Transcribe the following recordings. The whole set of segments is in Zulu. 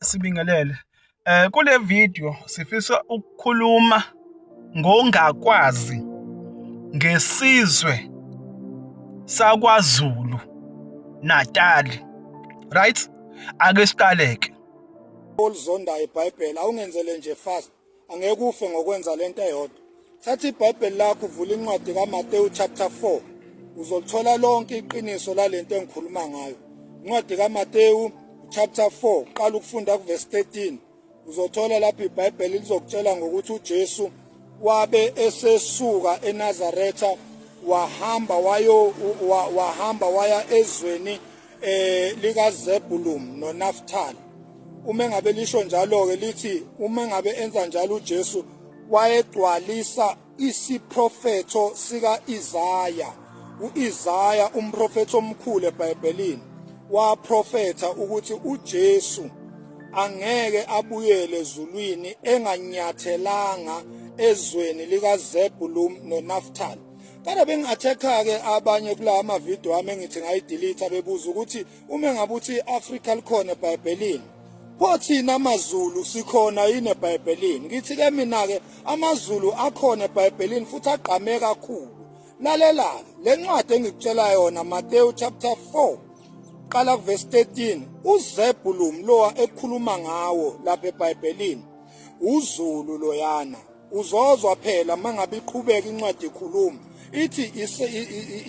Sibingelele. Eh kule video sifisa ukukhuluma ngongakwazi ngesizwe sakwaZulu Natal. Right? Ake siqaleke. Olizondayo iBhayibheli awungenzele nje fast. angeke ufe ngokwenza lento eyodwa thatha ibhayibheli lakho uvula incwadi kamatewu chapter 4 uzolithola lonke iqiniso lalento engikhuluma ngayo incwadi kamatewu chapter 4 qala ukufunda kuverse 13 uzothola lapho ibhayibheli lizokutshela ngokuthi ujesu wabe esesuka enazaretha wahamba wayo wahamba waya ezweni eh likaZebulum noNaftal uma ngabe lisho njalo ke lithi uma ngabe enza njalo uJesu wayegcwalisa isiprofetho sika Isaya uIsaya umprofethi omkhulu eBhayibhelini waprofetha ukuthi uJesu angeke abuyele ezulwini enganyathelanga ezweni likaZebulum noNaftal Kodwa bengi-attack-ke abanye kula amavidiyo wami engithi ngayidelete bebuza ukuthi uma ngabe uthi i-Afrika likhona eBhayibhelini pho thina amaZulu sikhona yini eBhayibhelini ngithi-ke mina-ke amaZulu akhona eBhayibhelini futhi agqame kakhulu lalela-ke le ncwadi engikutshela yona Mateyu chapter 4 qala kuvesi 13 uzebhulumu lowa ekhuluma ngawo lapha eBhayibhelini uzulu loyana uzozwa phela mangabe iqhubeka incwadi ekhuluma ithi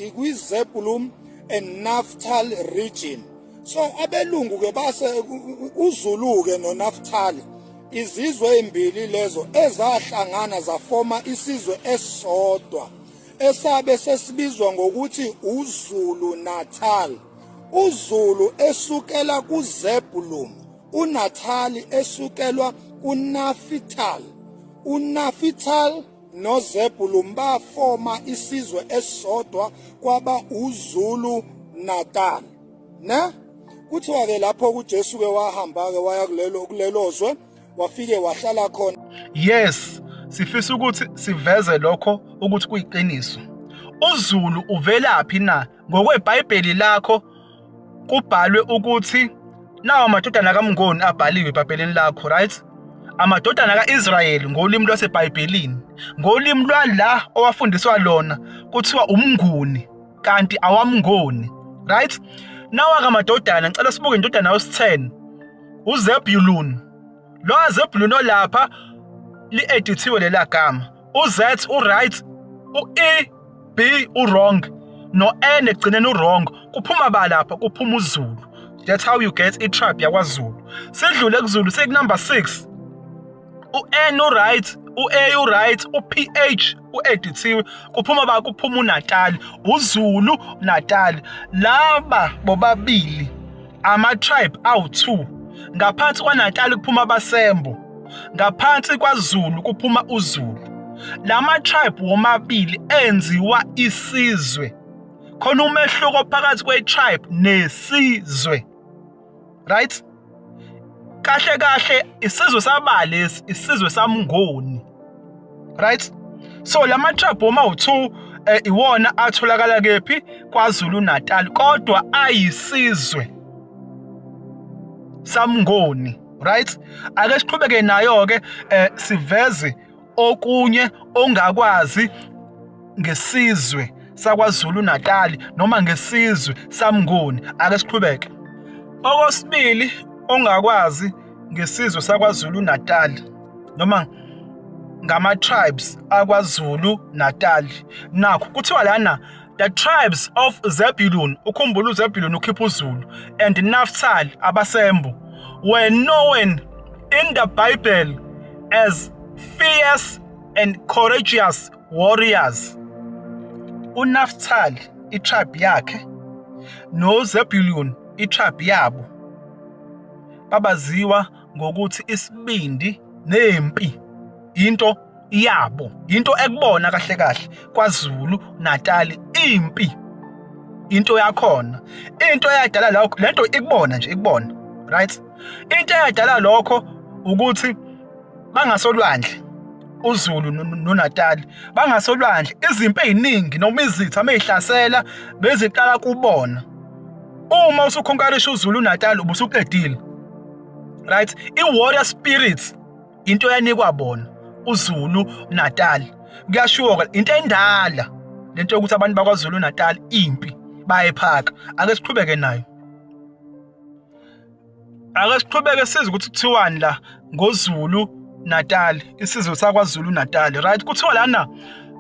ikwizeblum and naftal region so abelungu ke base uzulu ke nonaftal izizwe ezimbili lezo ezahlangana zafoma isizwe esisodwa esabe sesibizwa ngokuthi uZulu Natal uZulu esukela kuZebulun uNathali esukelwa kuNafithali uNafithali noZebulun bafoma isizwe esisodwa kwaba uZulu Natal ne kuthiwa ke lapho kuJesu ke wahamba ke waya kulelo kulelozwe wafike wahlala khona yes sifisa ukuthi siveze lokho ukuthi kuyiqiniso uZulu uvelaphi na ngokweBhayibheli lakho kubhalwe ukuthi nawo amadodana kaMngoni abhaliwe ebhapeleni lakho right amadodana ka-Israyeli ngolimi lwaseBhayibhelini ngolimi lwala owafundiswa lona kuthiwa umnguni kanti awamngoni right nawaka amadodana ngicela sibuke indodana yosithen uzebulun lo azebulun olapha li-edithiwe lela gama uZ uright, uE B uwrong noN ekugcineni uwrong kuphuma ba lapha kuphuma uZulu. That's how you get itribe yakwaZulu. Sidlule kuZulu sekunumber 6. UN uright, uA uright, uPH uedithiwe kuphuma ba kuphuma uNatal, uZulu Natal. Laba bobabili Ama-tribe awu-2. Ngaphansi kwaNatali kuphuma abaSembo. Ngaphansi kwaZulu kuphuma uZulu. La ma-tribe womabili enziwa isizwe. Khona umehluko phakathi kwe-tribe nesizwe. Right? Kahle kahle isizwe sabalesi, isizwe saMngoni. right so lama trap uma u2 eh, iwona atholakala kephi kwaZulu Natal kodwa ayisizwe samngoni right ake siqhubeke nayo ke eh, siveze okunye ongakwazi ngesizwe sakwaZulu Natal noma ngesizwe samngoni ake siqhubeke okwesibili ongakwazi ngesizwe saKwaZulu-Natal noma ngama-tribes aKwaZulu-Natal. Nakho kuthiwa lana the tribes of Zebulun, ukhumbula uZebulun ukhipha uZulu, and Naphtali abasembu were known in the Bible as fierce and courageous warriors. UNaphtali itribe yakhe noZebulun itribe yabo babaziwa ngokuthi isibindi nempi into yabo into ekubona kahle kahle kwaZulu Natali impi into yakhona into eyadala lokho lento ikubona nje ikubona right into eyadala lokho ukuthi bangasolwandle uZulu noNatal bangasolwandle izimpi eziningi noma izitha meyihlasela beziqala kubona uma usukhonkarisha uZulu Natal ubusuqedile right iwarrior spirit into yanikwa bona uZulu Natal kuyashuka into endala lento yokuthi abantu bakwaZulu Natal impi bayephaka ake siqhubeke nayo Ake siqhubeke size ukuthi kuthiwani la ngoZulu Natal, isizwe sakwaZulu Natal. Right? Kuthiwa lana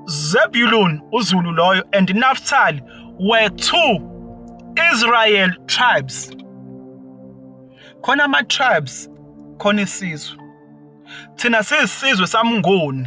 Zebulun uZulu loyo and Naphtali were two Israel tribes. Khona ama tribes khona isizwe. Thina sisizwe samngoni.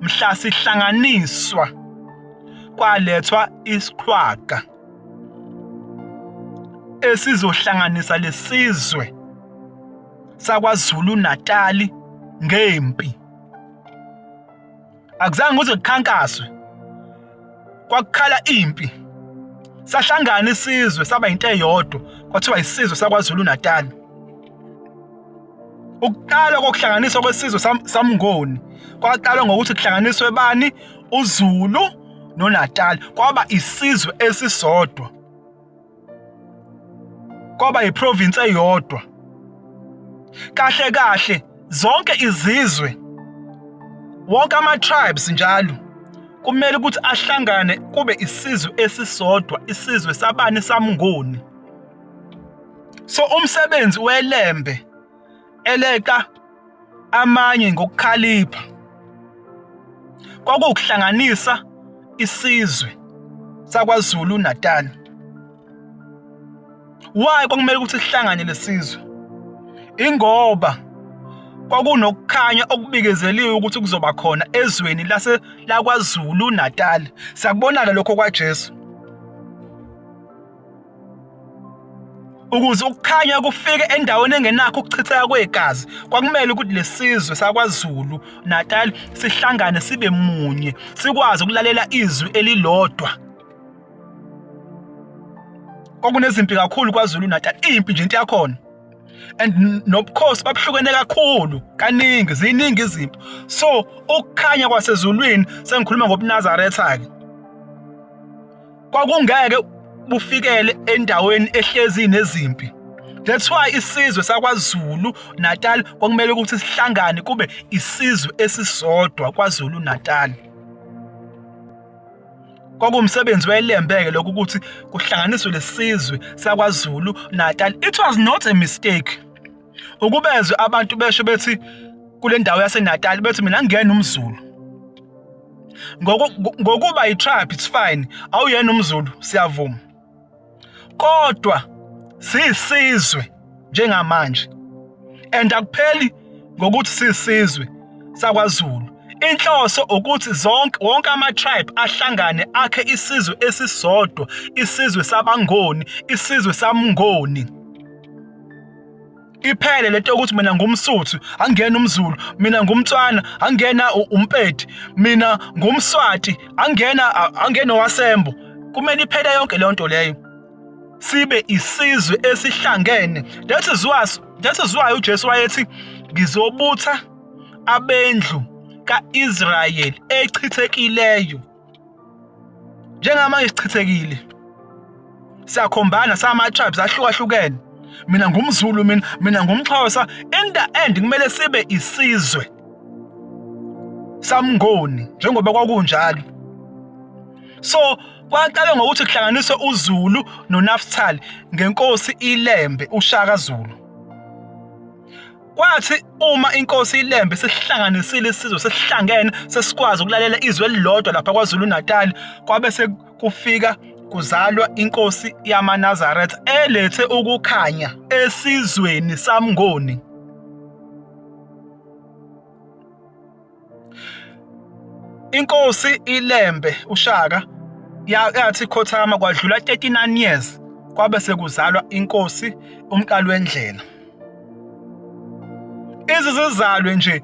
mhla sihlanganiswa kwalethwa isiqhwaga esizohlanganisa lesizwe sakwaZulu Natali ngempi akuzange kuze kukhankaswe kwakukhala impi sahlangana isizwe saba into eyodwa kwathiwa isizwe sakwaZulu Natali Ukuqalwa kokuhlanganiswa kwesizwe samngoni kwaqalwa ngokuthi kuhlanganiswe bani uZulu noNatal kwaba isizwe esisodwa kwaba iprovince eyodwa kahle kahle zonke izizwe wonke ama tribes njalo kumele ukuthi ahlangane kube isizwe esisodwa isizwe sabani samngoni so umsebenzi welembe eleqa amanye ngokukhalipha kwakuwukuhlanganisa isizwe sakwaZulu Natal why kwakumele ukuthi sihlangane lesizwe ingoba kwakunokukhanya okubikezeliwe ukuthi kuzoba khona ezweni lase lakwaZulu Natal sakubonala lokho kwaJesu Ukuze ukukhanya kufike endaweni engenakho ukuchitheka kwegazi, kwakumele ukuthi lesizwe sakwaZulu Natal sihlangane sibe munye, sikwazi ukulalela izwi elilodwa. Kwakunezimpi kakhulu kwaZulu Natal, impi nje into yakhona. And nobukhosi babuhlukene kakhulu, kaningi ziningi izimpi. So ukukhanya kwasezulwini sengikhuluma ngobuNazaretha ke. kwakungeke bufikele endaweni ehlezi nezimpi that's why isizwe sakwaZulu Natal kwakumele ukuthi sihlangane kube isizwe esisodwa kwaZulu Natal kwakuwumsebenzi wayelembeke lokhu ukuthi kuhlanganiswe lesizwe sakwaZulu Natal it was not a mistake ukubezwe abantu besho bethi kule ndawo yaseNatal bethi mina ngiyena umZulu ngokuba yi-tribe it's fine awuyena umzulu siyavuma kodwa siyisizwe njengamanje and akupheli ngokuthi siyisizwe sakwazulu inhloso ukuthi zonke wonke ama-tribe ahlangane akhe isizwe esisodwa isizwe sabangoni isizwe samngoni iphele lento yokuthi mina ngumsuthu angena umzulu mina ngumtswana angena umpedi mina ngumswati angena angena wasembo kumele iphele yonke leyo nto leyo sibe isizwe esihlangene that is why that is why uJesu wayethi ngizobutha abendlu kaIsrael echithekileyo njengamanje sichithekile siyakhombana sama-tribes ahlukahlukene mina ngumzulu mina mina ngumxhosa in the end kumele sibe isizwe samngoni njengoba kwakunjalo so kwaqale ngokuthi kuhlanganiswe uzulu nonaphthali ngenkosi ilembe ushaka zulu Kwathi uma inkosi iLembe sesihlanganisile isizwe sesihlangene sesikwazi ukulalela izwi elilodwa lapha KwaZulu-Natal kwabe sekufika kuzalwa inkosi yamaNazaretha elethe ukukhanya esizweni saMngoni. inkosi ilembe ushaka yathi khothama kwadlula 39 years kwabe sekuzalwa inkosi umqali wendlela izizizalwe nje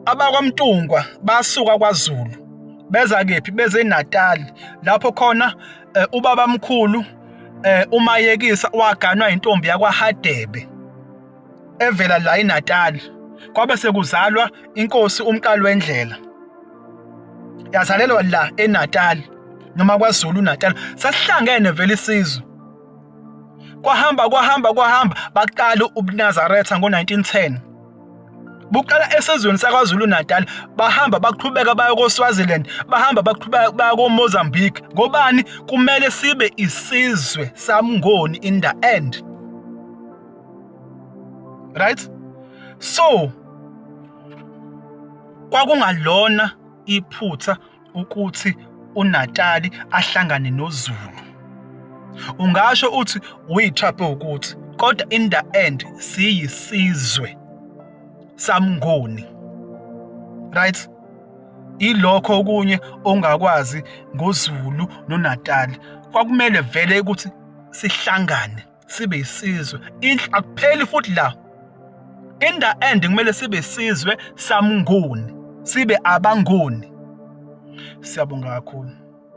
abakwamtungwa basuka kwazulu beza kephi beze eNatal lapho khona eh, ubabamkhulu eh, umayekisa waganwa intombi yakwaHadebe evela la eNatal kwabe sekuzalwa inkosi uMqali wendlela yazalelwa la eNatal noma kwaZulu Natal sasihlangene vele isizwe kwahamba kwahamba kwahamba baqala ubuNazaretha ngo-1910 buqala esizweni sakwaZulu Natal bahamba baqhubeka bayo koSwaziland bahamba baqhubeka baya koMozambique ngobani kumele sibe isizwe samngoni in the end right so kwakungalona iphutha ukuthi uNatali ahlangane noZulu ungasho uthi uyithape ukuthi kodwa in the end siyisizwe samngoni right ilokho okunye ongakwazi ngoZulu noNatali kwakumele vele ukuthi sihlangane sibe isizwe inhla akupheli futhi la in the end kumele sibe isizwe samnguni sibe abanguni siyabonga kakhulu